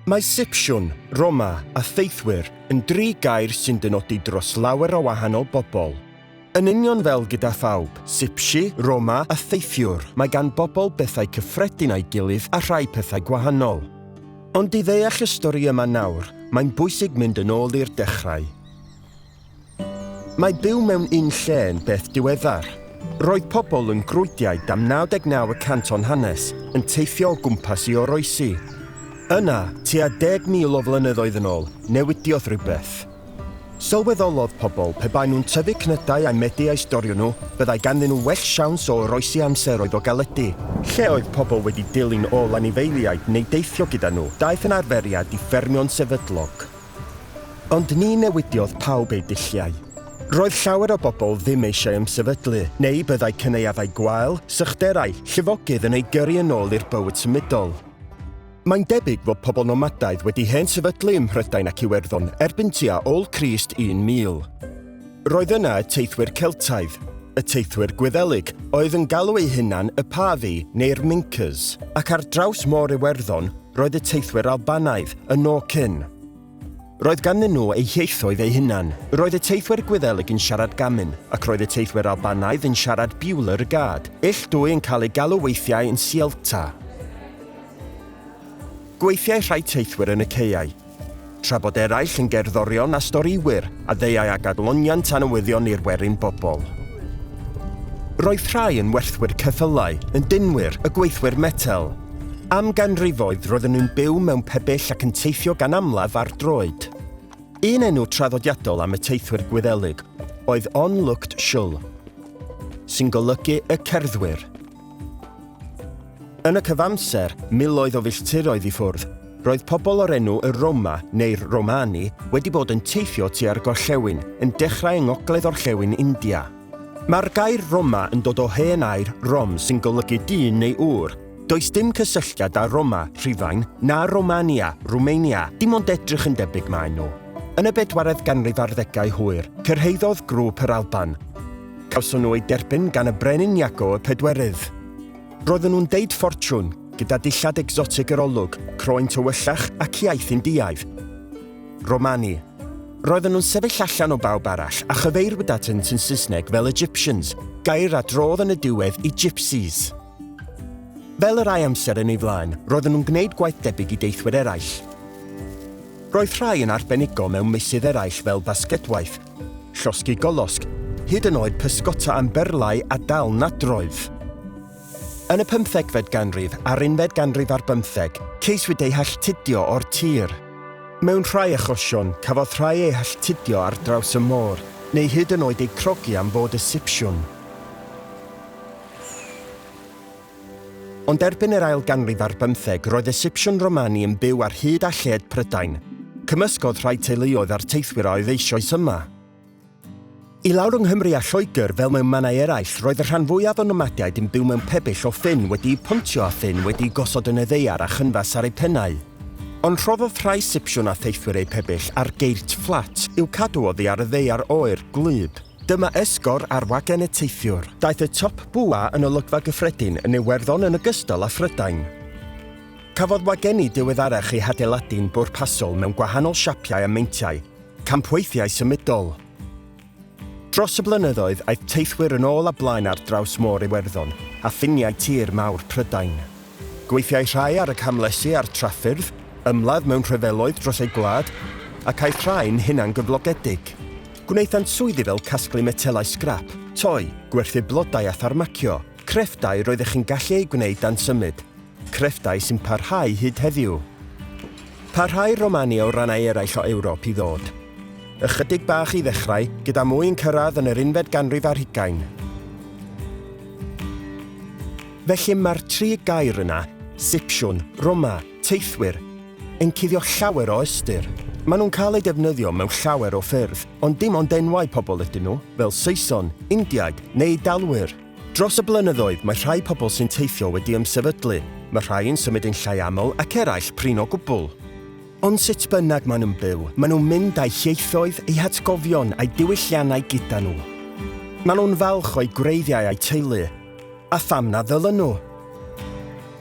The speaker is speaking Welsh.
Mae Sipsiwn, Roma, a Theithwyr yn dri gair sy'n dynodi dros lawer o wahanol bobl. Yn union fel gyda phawb, Sipsi, Roma, a Theithiwr, mae gan bobl bethau cyffredin â'i gilydd a rhai pethau gwahanol. Ond i ddeall y stori yma nawr, mae'n bwysig mynd yn ôl i'r dechrau. Mae byw mewn un lle yn beth diweddar. Roedd pobl yn grwyddiau dam 99 y cant o'n hanes yn teithio o gwmpas i oroesi. Yna, tua 10,000 o flynyddoedd yn ôl, newidiodd rhywbeth. Sylweddolodd pobl pe baen nhw'n tyfu cnydau ai medi a'u storio nhw, byddai ganddyn nhw well siawns o oroesi amseroedd o galedi. Lle oedd pobl wedi dilyn ôl anifeiliaid neu deithio gyda nhw, daeth yn arferiad i ffermio'n sefydlog. Ond ni newidiodd pawb eu dulliau. Roedd llawer o bobl ddim eisiau ymsefydlu, neu byddai cynaeafau gwael, sychderau, llifogydd yn eu gyrru yn ôl i'r bywyd symudol. Mae'n debyg fod pobl nomadaidd wedi hen sefydlu ym Mhrydain ac Iwerddon erbyn tua ôl Crist 1000. Roedd yna y teithwyr Celtaidd, y teithwyr Gwyddelig, oedd yn galw eu hunan y Pavi neu'r Mincas, ac ar draws Môr Iwerddon roedd y teithwyr Albanaidd, y Norcyn. Roedd ganddyn nhw eu hieithoedd eu hunan. Roedd y teithwyr Gwyddelig yn siarad Gamin, ac roedd y teithwyr Albanaidd yn siarad Biwler y Gad, ill dwy yn cael eu galw weithiau yn Sielta. Gweithiai rhai teithwyr yn y caeau, Tra bod eraill yn gerddorion a storïwyr a ddeuai ag adloniant a newyddion i'r werin bobl. Roedd rhai yn werthwyr ceffylau, yn dinwyr, y gweithwyr metel. Am ganrifoedd roedden nhw'n byw mewn pebyll ac yn teithio gan amlaf ar droed. Un enw traddodiadol am y teithwyr Gwyddelig oedd On Looked Shul, sy'n golygu y cerddwyr. Yn y cyfamser, miloedd o filltiroedd i ffwrdd, roedd pobl o'r enw y Roma, neu'r Romani, wedi bod yn teithio tua'r gorllewin, yn dechrau yng ngogledd-orllewin India. Mae'r gair Roma yn dod o hen air Rom sy'n golygu dyn neu ŵr. Does dim cysylltiad â Roma, Rhufain, na Romania, Rwmania, dim ond edrych yn debyg maen nhw. Yn y bedwaredd ganrif ar ddegau hwyr, cyrhaeddodd grŵp yr Alban, Cawson nhw eu derbyn gan y Brenin Iago y Pedwerydd. Roedden nhw'n deud ffortiwn, gyda dillad egsotig yr olwg, croen tywyllach ac iaith Indiaidd. Romani. Roedden nhw'n sefyll allan o bawb arall a chyfeirwyd at ynt yn Saesneg fel Egyptians, gair a drodd yn y diwedd i Gypsies. Fel y rhai amser yn ei flaen, roedden nhw'n gwneud gwaith debyg i deithwyr eraill. Roedd rhai yn arbenigo mewn meysydd eraill fel basketwaith, Llosgi golosg, hyd yn oed pysgota am berlau a dal nadroedd. Yn y pymthegfed ganrif a'r unfed ganrif ar bymtheg, ceiswyd eu halltudio o'r tir. Mewn rhai achosion, cafodd rhai eu halltudio ar draws y môr, neu hyd yn oed eu crogi am fod y sipsiwn. Ond erbyn yr ail ganrif ar bymtheg roedd y Sipsiwn Romani yn byw ar hyd a lled Prydain. Cymysgodd rhai teuluoedd a'r teithwyr a oedd eisoes yma. I lawr yng Nghymru a Lloegr, fel mewn mannau eraill, roedd y rhan fwyaf o nomadiaid yn byw mewn pebyll o ffyn wedi'u pontio a ffyn wedi'u gosod yn y ddaear a chynfas ar eu pennau. Ond rhoddodd rhai Sipsiwn a theithwyr eu pebyll ar geirts fflat i'w cadw oddi ar y ddaear oer, gwlyb. Dyma esgor ar wagen y teithiwr. Daeth y Top Bwa yn olygfa gyffredin yn Iwerddon yn ogystal â Phrydain. Cafodd wagenni diweddarach eu hadeiladu'n bwrpasol mewn gwahanol siapiau a meintiau, campweithiau symudol. Dros y blynyddoedd, aeth teithwyr yn ôl a blaen ar draws Môr Iwerddon a ffiniau tir mawr Prydain. Gweithiai rhai ar y camlesi a'r traffyrdd, ymladd mewn rhyfeloedd dros eu gwlad, ac aeth rhai'n hunangyflogedig. Gwnaethant swyddi fel casglu metelau sgrap, toi, gwerthu blodau a tharmacio, crefftau roeddech chi'n gallu eu gwneud dan symud, crefftau sy'n parhau hyd heddiw. Parhau Romania o rannau eraill o Ewrop i ddod. Ychydig bach i ddechrau, gyda mwy yn cyrraedd yn yr unfed ganrif ar hugain. Felly mae'r tri gair yna, Sipsiwn, Roma, Teithwyr, yn cuddio llawer o ystyr. Maen nhw'n cael eu defnyddio mewn llawer o ffyrdd, ond dim ond enwau pobl ydyn nhw, fel Saeson, Indiaid, neu Eidalwyr. Dros y blynyddoedd, mae rhai pobl sy'n teithio wedi ymsefydlu, mae rhai yn symud yn llai aml ac eraill prin o gwbl. Ond sut bynnag maen nhw'n byw, maen nhw'n mynd â'u hieithoedd, eu hatgofion a'u diwylliannau gyda nhw. Maen nhw'n falch o'u gwreiddiau a'u teulu, a pham na ddylwn nhw?